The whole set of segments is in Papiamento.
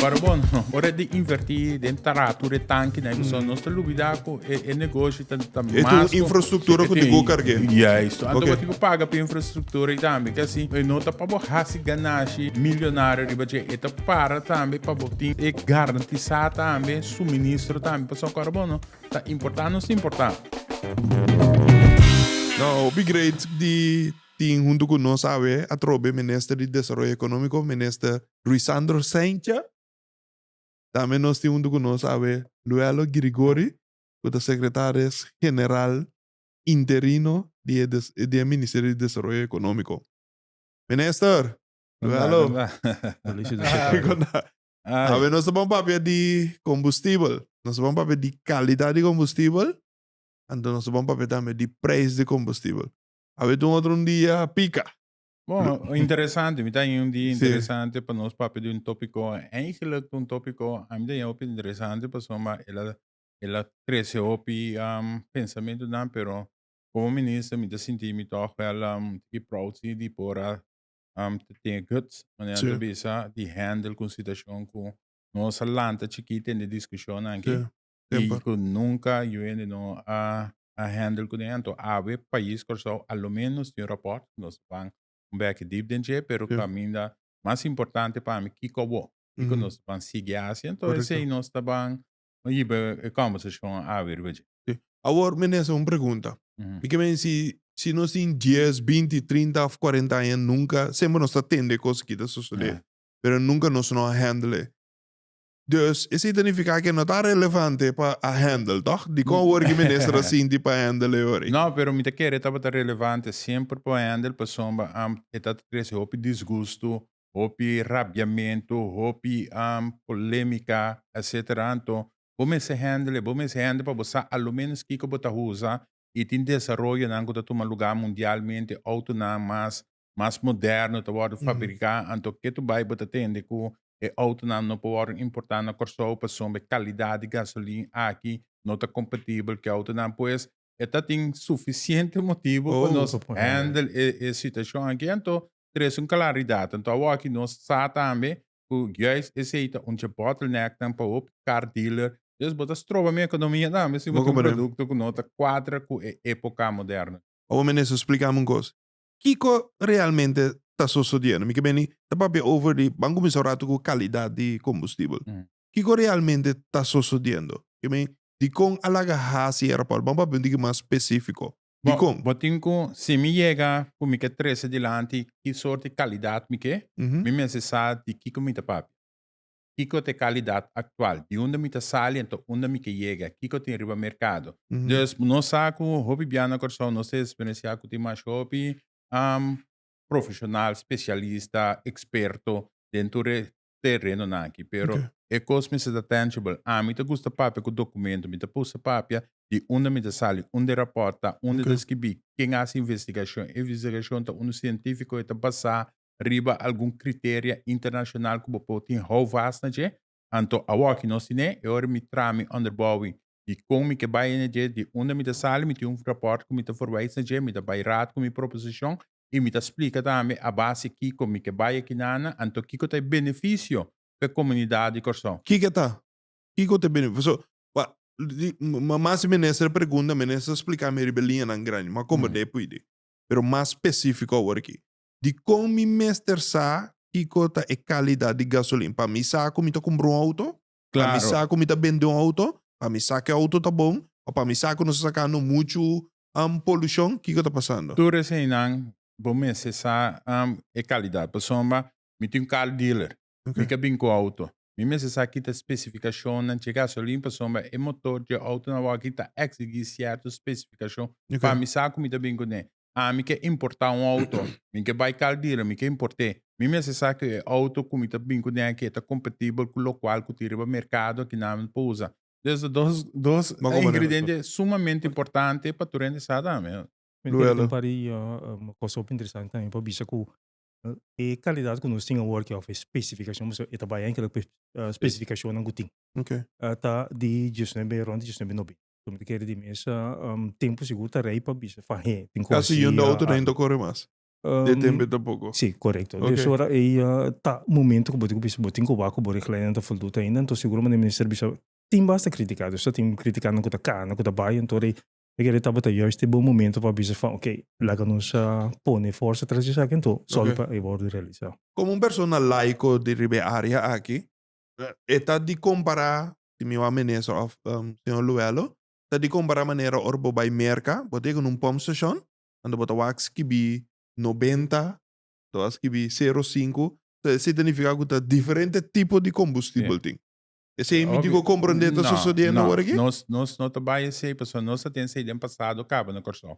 Pero bon, ora e tin invertí den tarato de tankinan i kusonjo, nos ta lubidá ku e e negoshi ta ta mas. E ta un infrastruktura ku tin ku karg'é. Ya esto. Anto bo tin ku paga pa e infrastruktura ei tambe. Ke así e no ta pa bo hasi ganashi milionario riba dje. E ta para tambe pa bo tin e garantisá tambe suministro tambe. Pasobra ku ora bo no ta importá nos ta importá. Now, bigreat di tin huntu cu nos awe atrobe Minister di Desaroyo Economico, Minister Ruisandro Saintje. Tambe nos tin huntu cu nos awe Luelo Girigori cu ta Secretaris General Interino di e di e Ministerio di Desaroyo Economico. Minister! Luelo! Conda. Awe nos ta ban papia di combustibel. Nos ta ban papia di calidad di combustibel, anto nos ta ban papia tambe di prijs di combustibel. A bete un otro un dia a pica. Bon, interesante, mi ta un dia interesante pa nos papia di un topico. Eigenlijk un topico a mi ta yama hopi interesante pasobra ma el a el a trece hopi um pensamentonan pero como minister mi ta sinti mi tog wel um e prousi di por a um ta tin e guts manera ta bisa di handle cu un situacion cu nos a lanta chikit den e discusionnan aki. Tempo. Cu nunca UND no a a handle cu den ento awe pais Curaçao a lo menos tin un rapport cu nos ban un beki deep den dje pero caminda mas importante pa mi kico bo kico nos ban sigui haci ento esey nos ta ban hiba e conversacion awe riba dje. Awor minister un pregunta mi ke mensi si nos tin dies, binti, trinta of cuarenta aña nunca semper nos ta tende cos aki ta sosode pero nunca nos no a handle Dus esei ta nifiká ke no ta relevante pa a handle, tòg? Dikon wòrdu ki minister a sinti pa handle e ora ei? No, pero mi ta kere tabata relevante semper pa handle pasobra e ta trese hopi disgustu, hopi rabiamentu, hopi polémika, etc. Anto bo mester handle, bo mester handle pa bo sa a lo ménos kiko bo ta huza i tin desaroyonan ku ta tuma lugá mundialmente, outonan mas mas moderno ta wordo fabrica anto ke tu bai bo ta tende ku e autonan no por wordo importa na Kòrsou pasobra e kalidad di gasolin aki no ta kompatibel ku e autonan pues e ta tin sufisiente motibu pa nos handle e situashon aki anto ta resta un kalaridat anto awor aki nos sa tambe ku juis esei ta un dje bottlenecknan pa hopi kar dealer dus bo ta stroba mi ekonomia tambe si bo tin un produkto ku no ta kuadra ku e epoka moderno. Awor Minister, splikami un kos. Kiko realmente ta sosodiendo? Mi ke bini ta papia over di, ban kuminsá un ratu ku kalidat di kombustibel. Kiko realmente ta sosodiendo? Ke bini, dikon a laga hasi e rapòrt? Ban papia un tiki mas spesífiko. Dikon? Bo tin ku si mi yega ku mi ke trese dilanti ki sort di kalidat mi ke, mi mester sa di kiko mi ta papia. Kiko ta e kalidat aktual? Di unda mi ta sali anto unda mi ke yega? Kiko tin riba merkado? Dus nos sa ku hopi bia na Kòrsou nos ta eksperensiá ku tin mas hopi profeshonal, spesialista, eksperto den tur e terenonan aki. Pero e kos mester ta tangible. Ami ta gusta papia ku dokumentu. Mi ta pusa papia di unda mi ta sali, unda e rapòrt ta, unda ta skibí, ken a hasi investigashon. E investigashon ta unda sientífiko e ta basá riba algun criteria internacional cu bo por tin houvast na dje, anto awoki nos tin e, e ora mi traha mi onderboui di con mi ke bay na dje, di unda mi ta sali, mi tin un rapport cu mi ta verwijs na dje, mi ta bay raad cu mi proposicion y mi ta splica tambe a base kico mi ke bay akinana, anto kico ta e beneficio p'e comunidad di Corsou. Kico ta? Kico ta e bene, paso pa di ma mas di minister a pregunta, minister a splica mi riba e liñanan grandi, mi a combrende e puidi, pero mas specifico awor aki, Dikon mi mester sa kiko ta e kalidat di gasolina pa mi sa ku mi ta kumpra un outo, pa mi sa ku mi ta bende un outo, pa mi sa ku e outo ta bon òf pa mi sa ku nos ta sakando muchu polushon? Kiko ta pasando? Tur eseinan bo mester sa e kalidat. Pasobra mi tin un kar dealer Mi ka bin ku outo. Mi mester sa kita spesifikashonnan dje gasolin pasobra e motor dje outonan awor aki ta eksigí sierto spesifikashon pa mi sa ku mi ta bin kuné. Ami ke importá un outo. Mi ke bai kal dealer, mi ke import'é. Mi mester sa ku e outo ku mi ta bin kuné aki e ta kompatibel ku lokual ku tin riba merkado aki nan por usa. Des ta dos dos ingrediente sumamente importante pa tur hende sa tambe. Mi kere tin pari kos hopi interesante tambe pa bisa ku E kalidad ku nos tin awor aki òf e spesifikashon pasobra e ta bai enkel riba e spesifikashonnan ku tin ta di diesnuebe rònt di diesnuebe nobenta. So mi ta kere di mesa tempu sigur ta rei pa bisa fahé tin kos si a. Kasi yunda otro dei no kore mas den tempu ei tampoko. Si, korekto. Desora ei ta momento ku bo debe bisa bo tin ku wak ku bo richtlijn nan ta foldu ta ainda, anto sigur manera e minister a bisa tin basta kritiká, dus ta tin kritikánan ku ta kana, ku ta bai, anto rei E kere tabata juist e bon momento pa bisa van ok, laga nos a pone forsa tras esaki anto, solo Ok. pa e wordo realisa. Como un persona laico di riba e area aki, e ta di compara, si mi wou a menesa of Señor Luelo, ta di compara manera ora bo bay Merca, bo ta yega na un pump station, ando bo ta wak skibi noventa, bo ta wak skibi sero sinku, so esey ta nifica cu ta diferente tipo di combustible tin. Esei mi dico comprende ta sosodiendo awor aki? No, no, nos no ta bay esei pasobra nos ta tin esei den pasado caba na Corsou.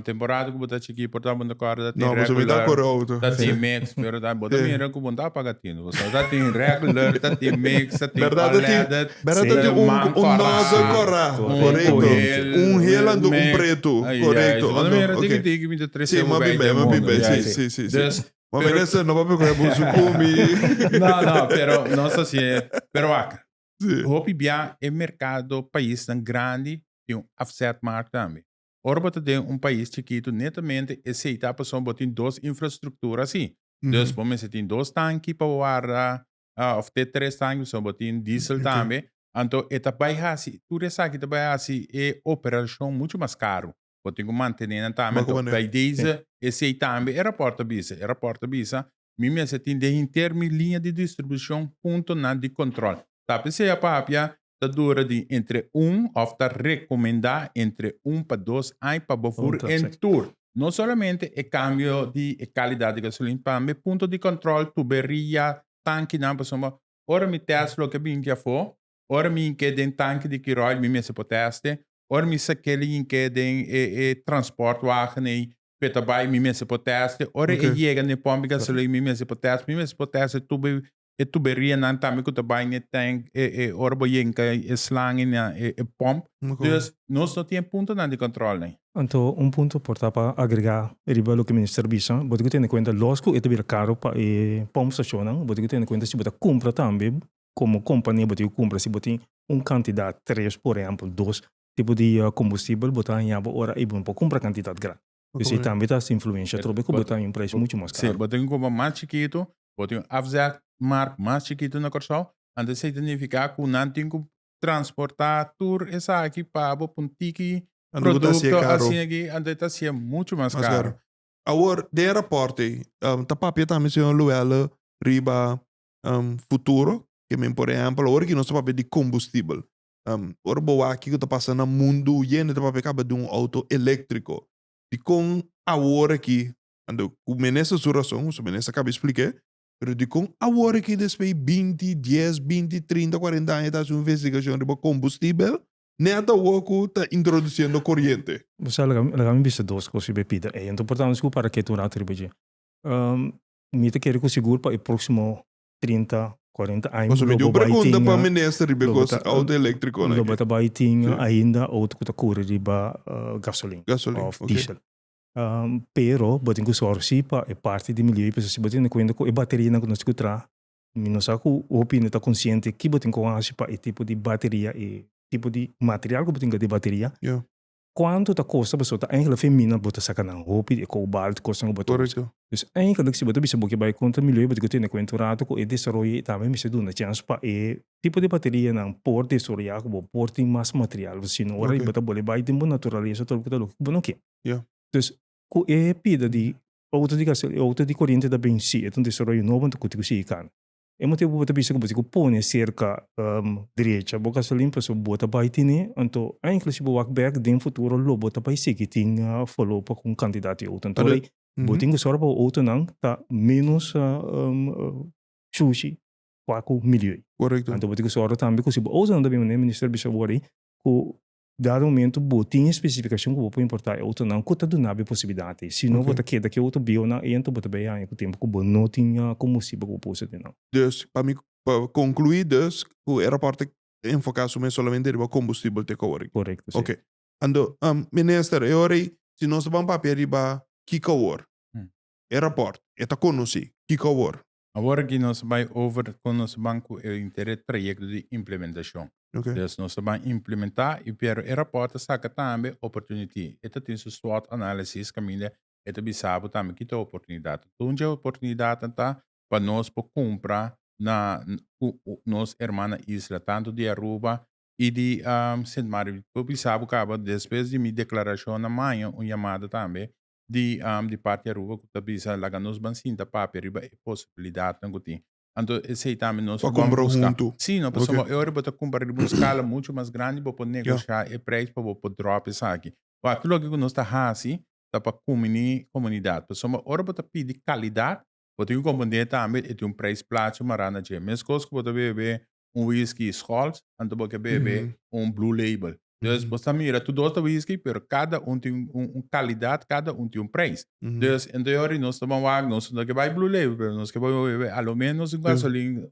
Temporada cu bo ta chiki por tanto bo no ta corda ta tin regular. No, pasobra mi ta corda auto. Ta tin mix, pero bo ta mira cu bo no ta paga tin. Pasobra ta tin regular, ta tin mix, ta tin unleaded, tin man corda, tin cohel, un hel and un preto. Correcto. Bo ta mira diki diki mi ta trece bo bay den mundo. Duz Bo a mira esei, no pape ku e busu ku mi. No, no, pero nos a si'e. Pero wak, hopi bia e merkado paisnan grandi tin un afzetmark tambe. Ora bo ta den un pais chikitu netamente esei ta pasobra bo tin dos infrastruktura asi. Dus bo mester tin dos tanki pa bo warda òf te tres tanki pasobra bo tin diesel tambe. Anto e ta bai hasi, tur esaki ta bai hasi e operashon muchu mas karu. bo tin cu mantené nan tambe. Anto, Bakumané. bay deze esey tambe e raport a bisa, e raport a bisa, mi mester tin den hinter mi liña di distribucion puntonan di control. Ta pe sea papia ta dura di entre un of ta recomenda entre un pa dos aña pa bo fur Punto, en si. tur. No solamente e cambio di e calidad di gasolina, tambe punto di control, tuberia, tankinan pasobra ora mi test loke a binti afo, Ora mi yinke den tanki di kiroil mi mester por teste, ora mi sakeli yinke den e e transport wagen ei p'e ta bai mi mester por teste, ora e yega n'e pomp di gasolina mi mester por teste, mi mester por teste tur be e tuberíanan tambe ku ta bai n'e tank e e ora bo yenka e slang ei na e e pomp. Dus nos no tin e puntonan di control n'ei. Anto un punto por ta pa agregá riba loke Minister bisa, bo tin ku tene kuenta los ku e ta bira karo pa e pomp stacionnan, bo tin ku tene kuenta si bo ta kumpra tambe komo kompania bo tin ku kumpra si bo tin un kantidat tres por ehèmpel dos tipo di kombustibel bo ta hañaba ora ei bo no por kumpra kantidat grandi. Pues ei tambe ta hasi influensha atrobe ku bo ta haña un preis muchu mas karu. Si bo tin un kompa mas chikitu, bo tin un afzetmark mas chikitu na Kòrsou, anto esei ta nifiká ku nan tin ku transportá tur esaki pa bo pa un tiki produkto asin aki, anto e ta hasié muchu mas karu. Awor, den e rapòrt ei, ta papia tambe señor Luelle riba um, futuro, ke men por ehempel, ora ki nos ta papia di kombustibel, um, ora bo wak kiko ta pasa na mundu yende ta papia kaba di un auto elektriko, dikon awor ki, ando ku minister su rason, ku su minister kaba spliké, pero dikon awor ki despei binti, dies, binti, trinta, kuarenta aña ta hasi un investigashon riba kombustibel, nèt awor ku ta introdusiendo koriente? Bo sa laga mi bisa dos kos riba e pida ei, anto por ta nos ku parakèt un rato riba dje. Um, Mi ta kere ku sigur pa e próksimo trinta, kuarenta aña Pasobra mi di un pregunta pa minister riba e kos outo eléktriko nan. Lo bata bai tin ainda outo ku ta kore riba gasolin òf diesel. Pero bo tin ku sòru si pa e parti di milieu pasobra si bo tene kuenta ku e baterianan ku nos tin ku traha, mi no sa ku hopi hende ta konsiente ki bo tin ku hasi pa e tipo di bateria, e tipo di material ku bo tin kaba den e bateria Cuanto ta costa pasobra ta engelik femina bo ta saca nan hopi di e cobar di cosnan cu bo ta usa. Dus engelik si bo ta bisa bo ke bay contra milieu bo tin cu tene cuenta un rato cu e desaroyo y tambe mester duna chance pa e tipo di baterianan por desoroya cu bo por tin mas material pasobra sino ora y bo ta bol'e bay den bo naturalesa ta lo cu ta lo cu bo no ke. Dus cu e pida di auto di gasolina auto di coriente ta benci e ta un desaroyo nobo anto cu tin cu sigui cana. E motibu bo ta bisa ku bo tin ku pone e serka drecha bo gasolin pasobra bo ta bai tene, anto enkele si bo wak bèk den futuro lo bo ta bai sigui tin folopa ku un kantidat di outonan. Por ey bo tin ku sòru pa bo outonan ta ménos shushi kua ku milieu. Korekto. Anto bo tin ku sòru tambe ku si bo outonan ta bin manera, Minister a bisa bo wor ei, ku Dado momento bo tin e specificacion cu bo por importa e autonan cu ta dunabo e posibilidad ey, sino bo ta keda cu e auto bionan ey anto bo ta bay haña cu tempo cu bo no tin combustible cu bo por usa den nan. Dus, pa mi, pa conclui dus cu e rapport ta enfoca su mes solamente riba combustible te coworking. Correcto, si. Ok. Anto, Minister, e ora ey si nos ta ban papia riba ki cawor e rapport e ta conoci ki cawor Awor aki nos ta bai over con nos ban cu e interet proyecto di implementacion. Okay. Dus nos ta ban implementa y pero e rapport ta saca tambe opportunity. E ta tin su SWOT analysis caminda e ta bisa bo tambe ki ta oportunidad. Tur dje oportunidadnan ta pa nos por cumpra na cu nos herman na isla, tanto di Aruba y di Sint Maarten. Por bisa bo caba, despues di mi declaracion na maña, un yamada tambe di di parti Aruba ku ta bisa laga nos ban sinta papia riba e posibilidatnan ku tin. Anto esei tambe nos lo por buska. Sí, no pasobra e ora bo ta kumpra riba un skala muchu mas grandi bo por negoshá e preis pa bo por dròp esaki. Wak tu loke ku nos ta hasi ta pa kuminí komunidat. Pasobra ora bo ta pidi kalidat bo tin ku komprendé tambe e tin un preis plachi mará na dje. Meskos ku bo ta wewé un whisky Scholz, anto bo ke bebe un Blue Label. Dus bo ta mira tur dos ta whisky, pero kada un tin un kalidat, kada un tin un prijs. Dus en teori nos ta ban wak, nos no ke bai Blue Label, pero nos ke bai bebe a lo menos un gasolin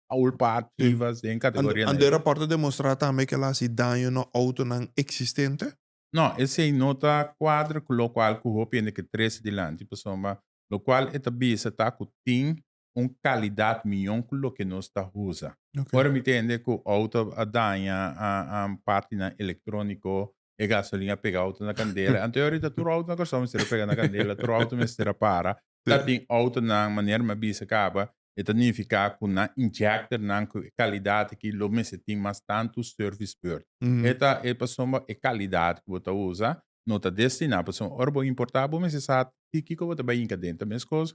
old part Chivas den kategoria negra. Anto e rapòrto demonstrá tambe ke el a hasi daño na outonan eksistente? No, esei no ta kuadra ku lokual ku hopi hende ke trese dilanti, pasobra lokual e ta bisa ta ku tin un kalidat miyon ku loke nos ta usa. Ora mi ta hende ku outo a daña, partinan elektróniko, e gasolin a pega outo na kandela, anto e orit a tur outo na Kòrsou mester a pega na kandela, tur outo mester a para. Ta tin outonan, manera mi a bisa kaba, e ta nifiká ku nan injèkter nan ku e kalidat aki lo mester tin mas tantu sèrvis beurt. E ta e pasobra e kalidat ku bo ta usa no ta destiná, pasobra ora bo importá bo mester sa ti kiko bo ta bai hinka denter. Meskos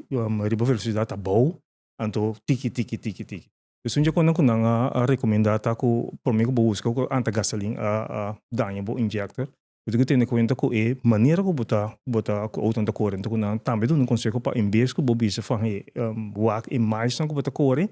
riba velosidad abou anto tiki tiki tiki tiki esun dje cuando cu nan a a recomenda ta cu prome cu bo busca cu anta gasolin a a daña bo injector bo tin cu tene cuenta cu e manera cu bo ta bo ta cu auto nan ta core anto cu nan tambe duna un conseho pa en bes cu bo bisa fan he wak e milestone cu bo ta core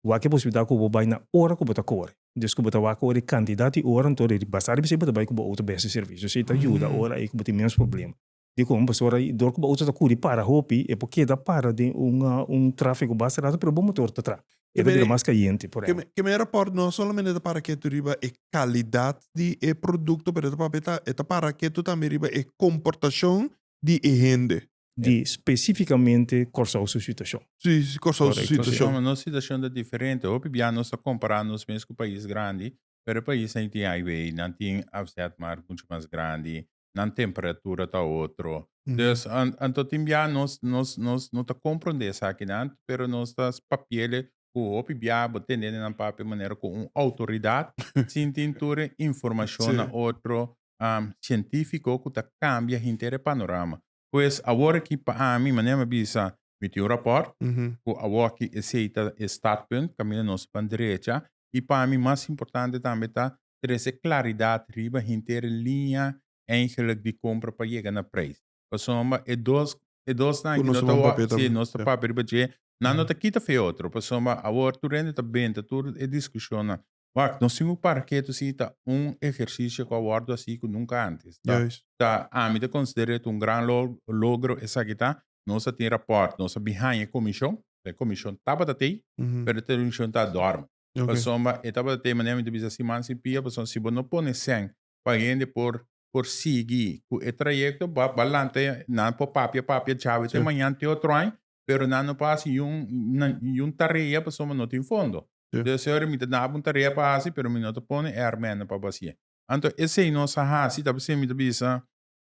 wak e posibilidad cu bo bay na ora cu bo ta core despues cu bo ta wak ora e cantidad di ora anto basta riba esey bo ta bay cu bo auto bes di servicio esey ta yuda ora ey cu bo tin menos problema. Di kon bo sora y dor cu bo auto ta curi para hopi, e por keda para den un trafico basta rato pero bo motor ta tra. E ta bira mas cayente, por ende. Ke mera por no solamente ta para ketu riba e calidad di e producto pero ta papia ta e ta para ketu tambe riba e comportacion di e hende. Di specificamente Corsou su situacion. Si, si Corsou su situacion. Correcto, si. Nos situacion ta diferente. Hopi bia nos ta compara nos mes cu pais grandi pero e pais ei tin highway, nan tin afzetmarkt mucho mas grandi, nan temperatura ta otro. Mm. Dus an- anto tin bia nos nos nos no ta comprende esakinan, pero nos ta s- papiele ku hopi bia bo tende den nan papia manera ku un outoridat sin tin tur e informashon Sí. na otro am, sientifiko ku ta kambia hinter e panorama. Pues awor aki pa ami, manera mi a bisa, mi tin un raport cu awoki esey ta e startpunt, camina nos pan derecha, y pa mi mas importante tambe ta trece claridad riba henter e linea eigenlijk di compra pa yega na prijs. Pasobra e dos e dosnan aki no ta wak, si, nos ta papia riba dje, nan no ta kita fe otro, pasobra awor tur hende ta benta tur e discusionnan, Wak, nos tin ku para ketu si ta un ehersisio ku a wòrdu hasi ku nunka antes. Ta, Juis. ta, ami ta konsiderá et un gran lo, logro esaki ta. Nos a tin rapòrt, nos a bin haña e komishon, ta e komishon tabata tei, Ujú. pero e komishon ta dòrmi. Ok. Pasobra e tabata tei, manera mi ta bisa si man si pia, pasobra si bo no pone sèn pa hende por, por sigui ku e trayekto, ba, ba lanta, nan por papia, papia, chabe te Sher. mañan te otro aña, pero nan no por hasi niun niun tarea pasobra no tin fondo. Entonces e señora mi ta daba un tarea pa hasi pero mi no ta pone e armenda pa basié. Anto esei nos a hasi ta pasobra mi ta bisa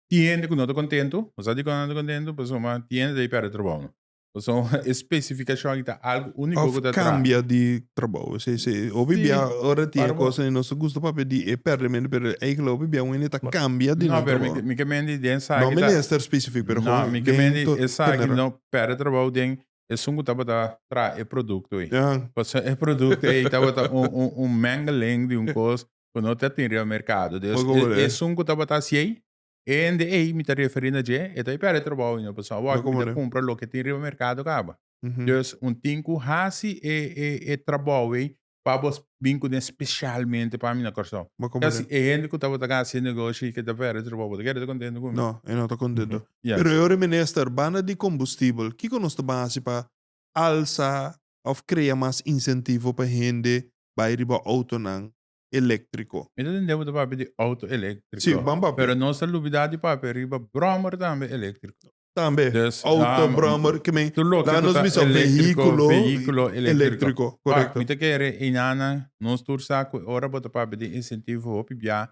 tin hende ku no ta kontentu. Bo sa dikon nan ta kontentu? Pasobra tin hende ta e pèrdè trabounan. Pasobra e spesifikashon aki ta algu úniko ku ta traha. Òf kambia di trabou. Se se hopi Sí, bia ora tin e parabo. cosa nos ta gusta papia di e perde mende pero eigenlijk hopi bia wende ta cambia di No, nan pero mi, trabou. mi ke mendi den esaki No ta- minister specific pero No, gewoon mi ke den mendi to- esaki general. no perde trabou den esun ku tabata traha e produkto ei. Ahan. Pasobra e produkto ei tabata un un un mengeling di un kos ku no ta tin riba merkado. Por Dus e- goberá. esun ku tabata hasi ei E hende ei mi ta referí na dje, e ta hopi al e trabou i no pasó awor ku mi ta kumpra loke tin riba merkado kaba. Dus un tin ku hasi e e e trabou ei pa bo bin ku den spesialmente pa mi na Kòrsou. Kasi e hende ku tabata gana hasi e negoshi i ke ta pèrdè trabou bo ta keda ta kontentu ku mi? No, e no ta kontentu. Pero e ora minister, banda di kombustibel, kiko nos ta bin hasi pa alsa òf krea mas insentivo pa hende bai riba outonan eléktriko. Mi ta tende bo ta papia di outo eléktriko. Sí, ban papia. Pero nos ta lubidá di papia riba bròmer tambe eléktriko. Tambe. Dus, da. Outo, bròmer, ke men. Tur loke ku ta eléktriko, vehíkulo eléktriko. Korekto. Mi ta kere einan nan, nos tur sa ku ora bo ta papia di insentivo hopi biá,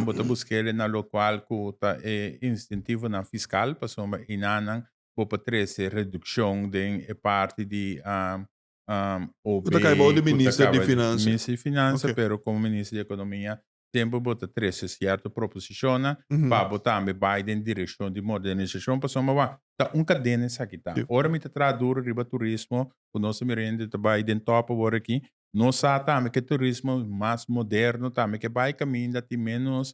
bo ta buskel e na lokual ku ta e insentivonan fiskal, pasobra einan nan bo por trese redukshon den e parti di um, OB. Cu ta cai bao di cu ta minister di caba- Finansa. Minister di Finansa, Ok. pero como Minister di Economia, siempre bo ta trece cierto proposicionnan Mhm. pa bo tambe bai den direccion di modernisacion, pasobra bo a ta un cadena esaki ta. Sí. Ora mi ta traha duro riba turismo, cu nos ta mira hende ta bai den top awor aki, nos sa tambe cu e turismo mas moderno tambe ke bai caminda tin menos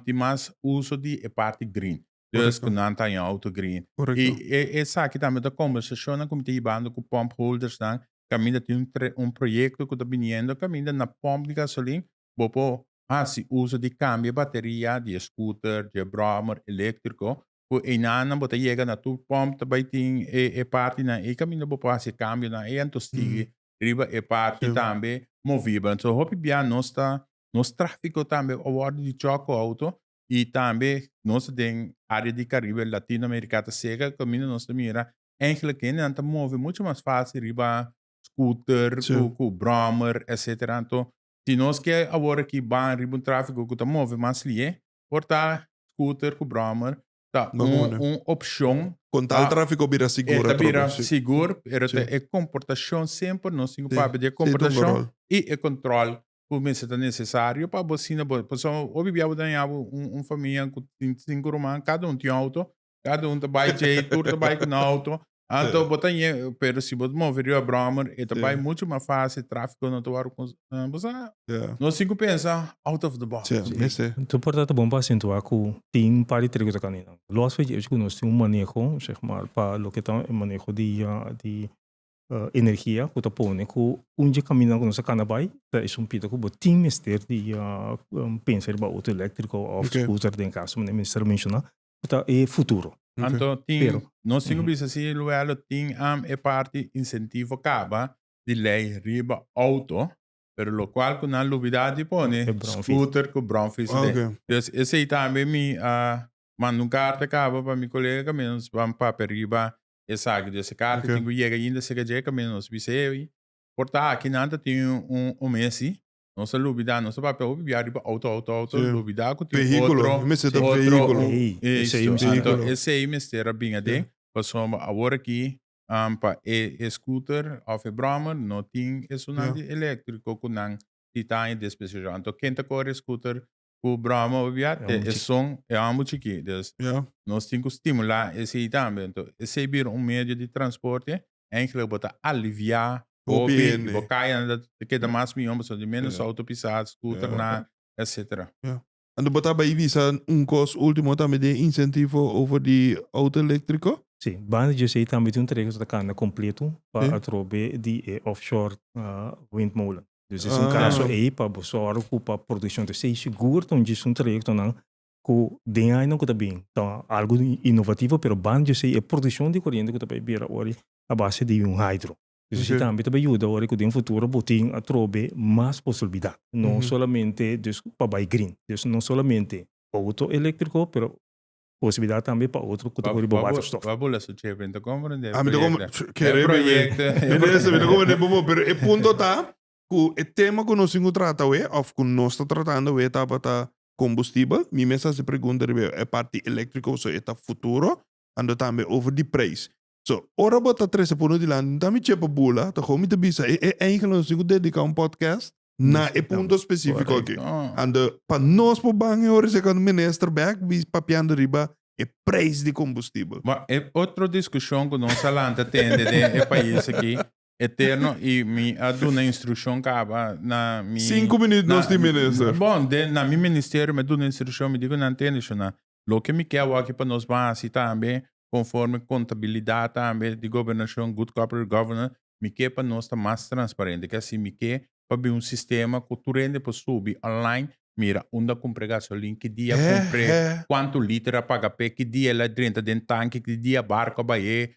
tin mas uso di e parti green. Dus ku nan ta yon outo green. I e esaki tambe ta kombersashonnan ku mi ta hibando ku pòmp holdersnan, kaminda tin un proyekto ku ta biniendo kaminda na pòmp di gasolin bo por hasi uso di kambia e bateria di e scooter, di e brommer elektriko, ku einanan bo ta yega na tur pòmp ta bai tin e partinan ei kaminda bo por hasi e kambionan ei anto sigui riba e parti tambe movible. So hopi bia nos ta Nos tráfiko tambe a wòrdu di chòk ku outo i tambe nos den área di Karibe, Latino Amerika ta sega kaminda nos ta mira enkele kendenan ta move muchu mas fásil riba scooter ku brommer etcétera. Anto si nos ke awor aki ban riba un tráfiko ku ta move mas lié por ta scooter ku brommer ta un opshon. Kon tal tráfiko bira sigur atrobe. E ta bira sigur pero ta e komportashon semper nos tin ku papia di e komportashon i e kòntròl cu mester ta necesario pa bo asina bo pasobra hopi bia bo ta haya bo un un famia cu tin cinco ruman cada un tin un auto cada un ta bay djei tur ta bay cu nan auto anto bo ta ñe pero si bo ta move riba Brommer e ta bay mucho mas facil trafico no ta wor cons bo sa nos tin cu pensa out of the box. Anto por ta bon pa acentua cu tin un par di trego ta caminando los e cu nos tin un maneho zeg maar pa loke ta e maneho di di energia ku ta pone ku un dje kaminda ku nos a kana bai ta e sumpida ku bo tin mester di pensa riba outo elektriko òf skuter den kas manera Minister a menshoná ku ta e futuro. Anto tin, nos tin ku bisa si luelo tin am e parti insentivo kaba di lei riba outo pero lokual ku nan lubidá di pone skuter ku brònfis den. Pues esei tambe mi a manda un karta kaba pa mi kolega kaminda nos ban papia riba esaki. Dje se karta tin ku yega ainda serka dje kaminda nos bisa e oi. Por ta aki nan ta tin un mesi nos a lubidá, nos ta papia hopi bia riba outo, outo, outo, lubidá ku tin otro, otro, esto. Esei mester a bin aden pasobra awor aki pa e scooter òf e brommer no tin esunandi eléktriko ku nan tita aña despesejo. Anto ken ta kore scooter cu broma bibia te esun e ambu chiki dus nos tin cu stimula esey tambe ento esey bira un medio di transporte enkele bo ta alivia hopi y bo kaya nan ta keda mas miyon pasobra di menos auto pisada scooter na etcetera. Anto bo ta bay bisa un cos ultimo tambe di e incentifo over di auto electrico? Si, banda di esey tambe tin un trayecto cu ta cambia completo pa atrobe di e offshore windmolen. Dus es un kaso ei pa bo sòru ku pa produksjon ta stay sigur ta un gestun trayektonan ku den añanan ku ta bin ta algu inovativo pero ban yo sei e produksjon di koriente ku ta bai bira ora a base di un hydro. Dus esei tambe ta bai yuda ora ku den futuro bo tin atrobe mas posilbidat no solamente dus pa bai green. Dus no solamente outo elektriko pero Posibilidad tambe pa otro cu ta hoor di bo waterstof. Wak bo leso chepe, mi ta comprende e proyecto. Minister, mi ta comprende e bobo, pero e punto ta cu e tema cu nos tin cu trata awe of cu nos ta tratando awe tabata combustible. Mi mes a haci pregunta riba e parti electrico pasobra e ta futuro and tambe over di prijs. So, ora bo ta trese punu dilanti, no ta mi chepa bula, ta gou mi ta bisa, e e eingel a nos tin ku dediká un podcast na e punto espesífiko akí. Korekto. Ando, pa nos por ban e ora esaki, ando minister bèk bi papiando riba e preis di kombustibel. Bo, e otro diskushon ku nos a lanta tende den e pais akí, Eterno y mi a duna instruccion caba na mi. Cinco minuut nos di minister. Bon, den na mi ministerio mi a duna instruccion, mi di cu nan tende shona. Loke mi ke awor aki pa nos ban haci tambe conforme contabilidad tambe di gobernacion, good corporate governance, mi ke pa nos ta mas transparente. Ke así mi ke pa bin un sistema cu tur hende por subi online, mira unda a cumpre gasolin, ki dia a cumpre, cuanto liter a paga p'e, ki dia el a drenta den tanki, ki dia barco a baye,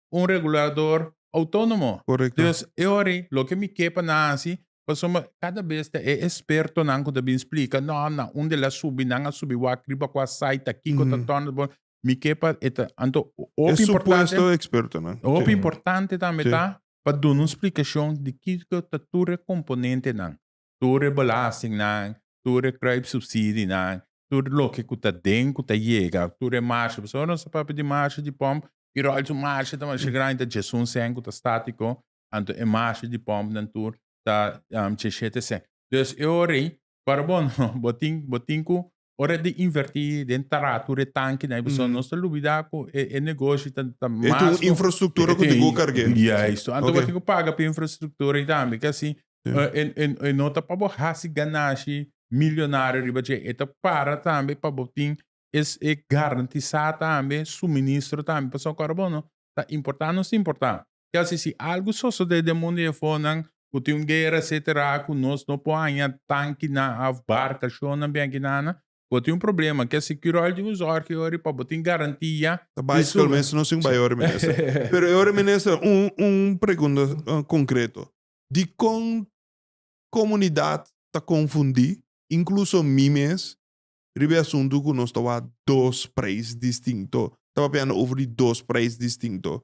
un regulador autónomo. Correcto. Dus e ori loke mi ke pa nan hasi, pasobra cada bes ta e expertonan cu ta bin splica, no, na un de la subi, nan a subi wak riba cua site ta kico ta torna, bo- mi ke pa e ta, anto o- E hopi importante, supuesto expertonan. hopi Sí. importante tambe Sí. ta pa duna un splicacion di kico ta tur e componentenan. tur e belastingnan, tur e kruipsubsidinan, tur loke ku ta den ku ta yega, tur e marsha. Pasobra nos ta papia di marsha di pòm, i ròl su marsha ta masha grandi, ta chesé un sèn ku ta státiko, anto e marsha di pòmnan tur ta chesé te sèn. Entonces e ora ei, para bo no, bo tin bo tin ku Ora e ta invertí den taratu di e tankinan, e persona no ta lubidá ku e e negoshi ta ta mas ku. E tin un infrastruktura ku tin ku karg'é. Yaistu. Anto bo tin ku paga pa e infrastruktura ei tambe. Ke así e e e no ta pa bo hasi ganashi milionario riba dje. E ta para tambe pa bo tin es e garantisá tambe suministro tambe. Pasobra ku ora bo no ta importá nos ta importá. Kasi si algu sosodé den mundu yefonan ku tin un guera esetera ku nos no por haña tankinan òf barkashonnan bia aki nan, bo tin un problema. Ke sikirò el tin un zòrgi yori pa bo tin garantia. Ta bicycle mes no si un bayori minister. Pero e ora minister un un pregunta konkreto. Dikon komunidat ta konfundí inkluso mi mes riba e asuntu ku nos ta wak dos preis distinto? Ta papiando over di dos preis distinto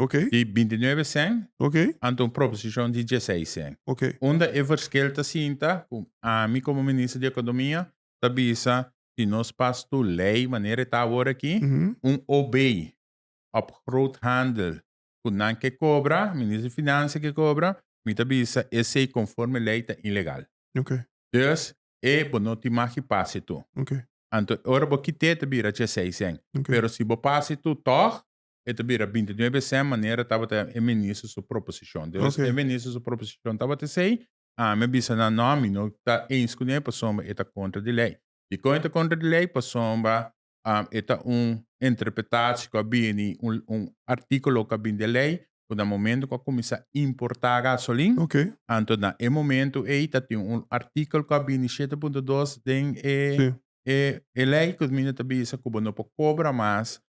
Ok. Di binti nuebe sèn. Ok. Ante un proposishon di dieseis sèn. Ok. Unda e verskil ta sinta ku ami komo minister di ekonomia ta bisa si nos pas tur lei manera e ta awor aki, un OB òf groothandel ku nan ke kobra, minister di Finansia ke kobra, mi ta bisa esei konforme lei ta ilegal. Ok. Dus e bo no tin mag i pase tur. Ok. Anto e ora bo kite ta bira dieseis sèn. Ok. Pero si bo pase tur tòg, E ta bira binti nuebe esei manera tabata e minister su proposicion. Deos Ok. e minister su proposicion tabata esei, ami a bisa nan no ami no ta eins cu ne pasobra e ta contra di ley. Dicon e ta contra di ley? Pasobra um e ta un interpretatie cu a bini, un un articulo cu a bini den ley cu na momento cu a cuminsa importa gasolin, Ok. anto na e momento ei ta tin un artikel cu a bini shete punto dos den e Sí. e e ley cu mi no ta bisa cu bo no por cobra mas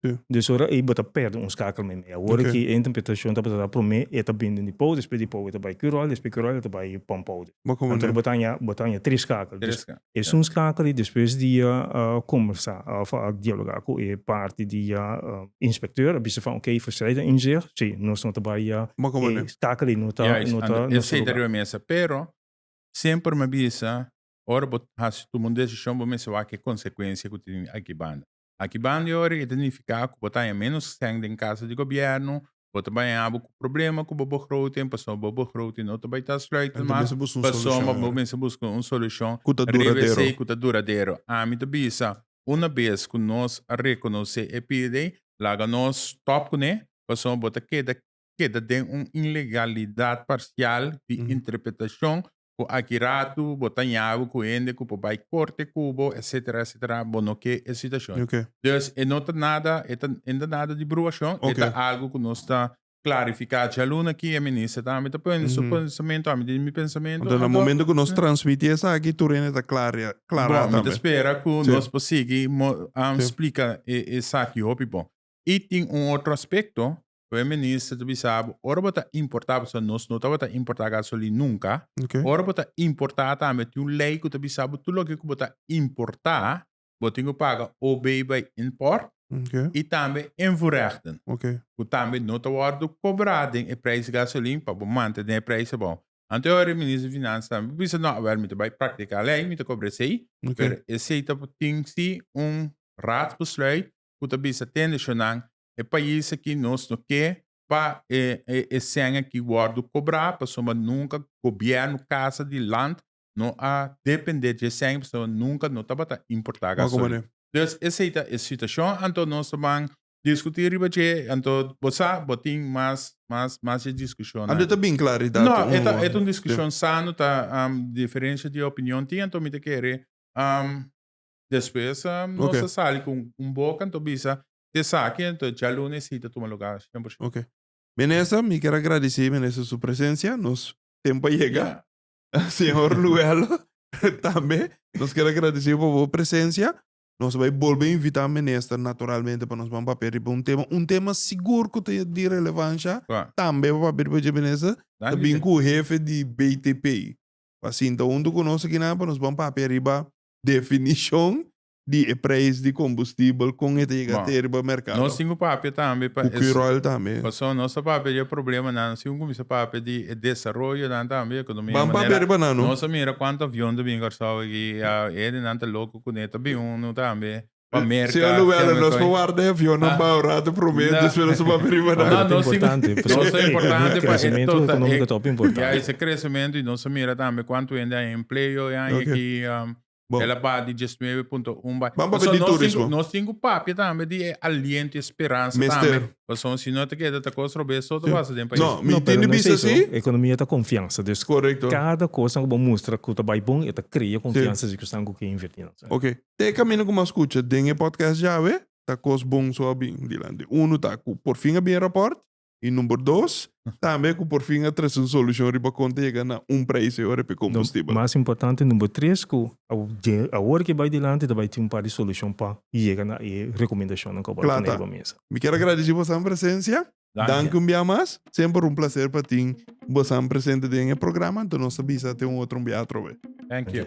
Des ora ei bo ta perde un skakel meimei. Awor aki e interpretashon tabata sa promé e ta bini di Pau, despues di Pau e ta bai Curol, despues Curol e ta bai Pampou. Anto bo ta haña bo ta haña tres skakel. Tres skakel, ya. Esun skakel ei despues di a kombersá òf a dialogá ku e parti di inspekteur a bisa van ok Verstraete a inzicht, si, nos no ta bai e skakel ei no ta no ta nos lugar. Juis, esei ta riba mesa, pero semper mi a bisa ora bo hasi tuma un desishon bo mester wak e konsekuensia ku tin aki banda. Aki ban di ora e ta nifiká ku bo ta haña ménos sèn den Kasa di Gobièrnu, bo ta bai haña bo ku problema ku bo bogroting pasobra bo bogroting no ta bai ta sluitend mas pasobra bo mester buska un solushon riba esei ku ta duradero. Ami ta bisa, una bes ku nos a rekonosé e pida ei, laga nos stòp kuné pasobra bo ta keda keda den un ilegalidat parsial di interpretashon cu aki ratu bo ta ñabu cu hende cu por bay corte cu bo, etcetera, etcetera, bo no ke e situacion. Ok. Dus e no ta nada, e ta, e no ta nada di bruacion, e Ok. ta algo cu nos ta clarifica djalun aki, e Minister tambe ta pone su pensamento, ami tin mi pensamento, Anto na anto, momento cu nos transmiti esaki tur hende ta clara, ya, clara bon, mi ta tambe. espera cu Sí. nos por sigui mo, um, Sí. splica e, esaki hopi bon. Y tin un otro aspecto, Prome minister ta bisa bo, ora bo ta importa, pasobra nos no tabata importa gasolin nunka, Okay. ora bo ta importa tambe tin un lei ku ta bisa bo tur loke ku bo ta importa, bo tin ku paga OB by import Okay. i tambe invoerrechten, Okay. ku tambe no ta wòrdu kobrá den e preis gasolin pa bo mantén den e preis abou. Anto ora e minister di Finansa tambe bisa, no, awèl, mi ta bai praktiká lei, mi ta kobra esei, Okay. pero esei ta tin si un raadsbesluit ku ta bisa tende shownan e pais aki nos no ke pa e e sèn aki wòrdu kobrá pasobra nunka gobièrnu Casa di Land no a dependé dje sèn pasobra nunka no tabata importá gasolina. Dus esei ta e situashon anto nos ta ban diskutí riba dje anto bo sa bo tin mas mas mas dje diskushonnan. Anto e ta bin klaridat uno wòrdu. No, e ta un diskushon sano ta diferensha di opinion tin anto mi ta kere despues nos a sali ku un boka anto bisa Di esaki anto djalunes si ta tuma lugá sien por sien. Oke. Minister, mi kier a gradici Minister su presencia. Nos tempo a yega. Señor Luello tambe nos kier a gradici pa bo presencia. Nos bai bolbe invita Minister naturalmente pa nos ban papia riba un tema, un tema sigur cu ta di relevancia tambe pa papia riba dje Minister, ta bin cu hefe di BTP pa sinta hunto cu nos aki nan pa nos ban papia riba definicion di e prijs di kombustibel kon e ta yega Bon, te riba merkado. Nos tin ku papia tambe pa Ku es Quirol tambe. paso. Nos ta papia di e problemanan si un kuminsá papia di e desaroyonan tambe, ekonomia Ban papia manera riba nan no. nos a mira kuantu avion ta bin Kòrsou aki, a ede nan ta loko kuné ta bin unu tambe pa Merka, Señor Lubela, kèmen nos koe. por warda e avionnan Ah. bou rato promé, No. despues nos a papia riba Bo nan. No, ta nos tin- importante, pasobra nos ta e- importante e pa e crecimiento total- económico e- ta hopi importante. Ya ese crecimiento y nos a mira tambe cuanto hende haña empleo e haña Oké. aquí, um, Bon. El a baha di dies nuebe punto un bai. Ban papia Pasobra di nos tin ku- turismo. Nos tin ku papia tambe di e aliento, e speransa Mester. tambe. Pasobra si no ta keda ta kos robes so ta basa den pais. No, mi No, pero tin di no es bisa eso. si. Economia ta confianza. Dus Correcto. cada cosa cu bo mustra cu ta bay bon e ta crea confianza si cu esnan cu ke inverti nan. Sa. Ok, te camino cu mas scucha den e podcast djawe, ta cos bon so a bin dilanti. Uno ta cu por fin a bin e rapport, Y number dos, tambe cu por fin a traci un solucion riba con ta yega na un prijs ahora p'e combustible. Mas importante, number tres, cu awor cu e bay dilanti ta bay tin un par di solucion pa yega na e recomendacionnan cu a wòrdu pone riba mesa. Mi kier a gradici bosan presencia. Danki un bia mas. Semper un placer pa tin bosan presente den e programa, anto nos ta bisa te un otro un bia atrobe. Thank you.